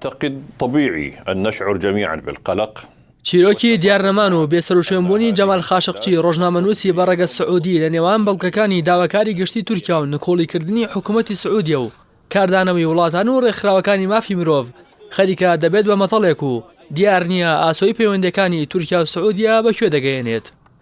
تقد طبیعی ان نشعر جمیعا بالقلق. چیرۆکی دیارنەمان و بێسەروشوێنبوونی جەمال خاشقچی ڕۆژنامەنووسی بە ڕەگەز سعودی لە نێوان بەڵگەکانی داواکاری گشتی تورکیا و نکۆڵیکردنی حکوومەتی سعودیە و کاردانەوەی وڵاتان و ڕێکخراوەکانی مافی مرۆڤ خەریکە دەبێت بە مەتەڵێک و دیار نییە ئاسۆی پەیوەندییەکانی تورکیا و سعودیە بە کوێ دەگەیەنێت.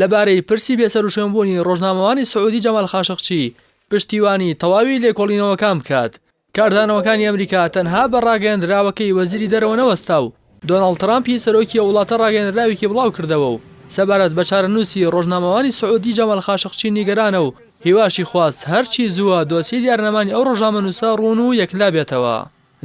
لەبارەی پرسی بێسەروشوێنبوونی ڕۆژنامەوانی سعودی جەمال خاشقچی پشتیوانی تەواوی لێکۆڵینەوەکان بکات، کاردانەوەکانی ئەمریکا تەنها بە ڕاگەیەندراوەکەی وەزیری دەرەوە نەوەستا و دۆناڵد ترامپی سەرۆکی ئەو وڵاتە ڕاگەیەندراوێکی بڵاوکردەوە و سەبارەت بە چارەنووسی ڕۆژنامەوانی سعودی جەمال خاشقچی نیگەرانە و هیواشی خواست هەرچی زووە دۆسیەی دیارنەمانی ئەو ڕۆژنامەنووسە ڕوون و یەکلابێتەوە.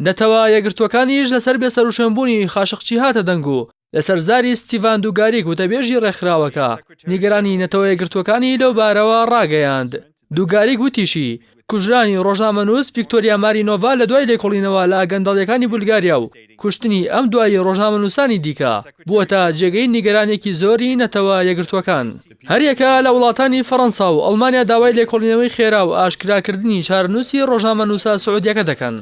نەتەوە یەکگرتووەکانیش لەسەر بێسەروشوێنبوونی خاشقچی هاتە دەنگ و لەسەر زاری ستیڤان دوگاریک وتەبێژی ڕێکخراوەکە نیگەرانی نەتەوە یەکگرتووەکانی لەو بارەوە ڕاگەیاند دوگاریک وتیشی کوژرانی ڕۆژنامەنووس ڤیکتۆریا مارینۆڤا لە دوای لێکۆڵینەوە لە گەندەڵیەکانی بولگاریا و کوشتنی ئەم دوایی ڕۆژنامەنووسانی دیکە بووەتە جێگەی نیگەرانێکی زۆری نەتەوە یەکگرتووەکان هەریەکە لە وڵاتانی فەرەنسا و ئەڵمانیا داوای لێکۆڵینەوەی خێرا و ئاشکراکردنی چارەنووسی ڕۆژنامەنووسە سعودیەکە دەکەن.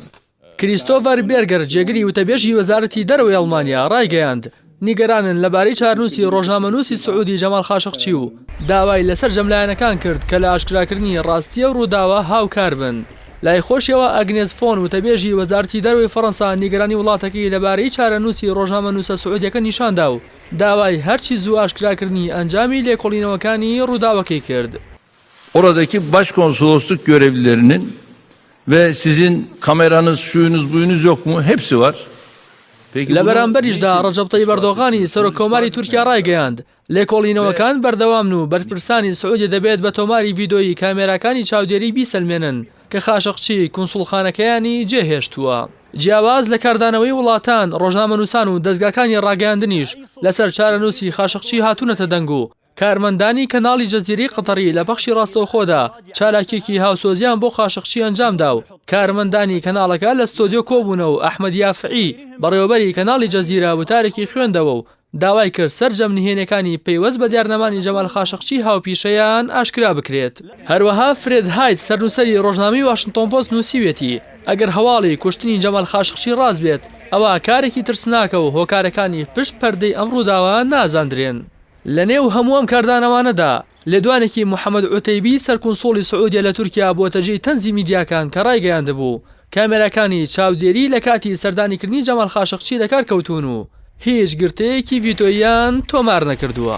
کریستۆڤەر بێرگەر، جێگری وتەبێژی وەزارەتی دەرەوەی ئەڵمانیا ڕایگەیاند، نیگەرانن لەبارەی چارنووسی ڕۆژنامەنووسی سعودی جەماڵ خاشقچی و داوای لە سەرجەم لایەنەکان کرد کە لە ئاشکراکردنی ڕاستی ئەو ڕووداوە هاوکار بن. لای خۆشیەوە ئەگنێز فۆن، وتەبێژی وەزارەتی دەرەوەی فەڕەنسا نیگەرانی وڵاتەکەی لەبارەی چارەنووسی ڕۆژنامەنووسە سعودیەکە نیشاندا و داوای هەرچی زوو ئاشکراکردنی ئەنجامی لێکۆڵینەوەکانی ڕووداوەکەی کرد. Oradaki başkonsolosluk görevlilerinin ve sizin kameranız, şuyunuz, buyunuz yok mu? Hepsi var. لە بەرامبەریشدا ڕەجەب تەیب ئەردۆغانی سەرۆک کۆماری تورکیا ڕایگەیاند، لێکۆڵینەوەکان بەردەوامن و بەرپرسانی سعودی دەبێت بە تۆماری ڤیدۆیی کامێراکانی چاودێری بیسەلمێنن کە خاشقچی کونسوڵخانەکەیانی جێهێشتووە. جیاواز لە کاردانەوەی وڵاتان، ڕۆژنامەنووسان و دەزگاکانی ڕاگەیاندنیش لەسەر چارەنووسی خاشقچی هاتوونەتە دەنگ و کارمەندانی کەناڵی جەزیرەی قەتەڕی لە پەخشی ڕاستەوخۆدا چالاکیەکی هاوسۆزیان بۆ قاشقچی ئەنجامدا و کارمەندانی کەناڵەکە لە ستۆدیۆ کۆبوونەوە و ئەحمەد یافعی بەڕێوەبەری کەناڵی جەزیرە وتارێکی خوێندەوە و داوای کرد سەرجەم نهێنیەکانی پەیوەست بە دیارنەمانی جەمال خاشقچی هاوپیشەیان ئاشکرا بکرێت. هەروەها فرێد هایت سەرنووسەری ڕۆژنامەی واشنتۆن پۆست نووسیویەتی، ئەگەر هەواڵی کوشتنی جەمال خاشقچی ڕاست بێت ئەوا کارێکی ترسناکە و هۆکارەکانی پشت پەردەی ئەم ڕووداوە نازاندرێن. لە نێو هەموو ئەم کاردانەوانەدا، لێدوانێکی محەمەد عوتەیبی سەرکونسوڵی سعودیە لە تورکیا بووەتە جێی تەنزی میدیاکان کە ڕایگەیاندبوو، کامێراکانی چاودێری لە کاتی سەردانیکردنی جەمال خاشقچی لە کار کەوتوون و هیچ گرتەیەکی ڤیتۆییان تۆمار نەکردووە.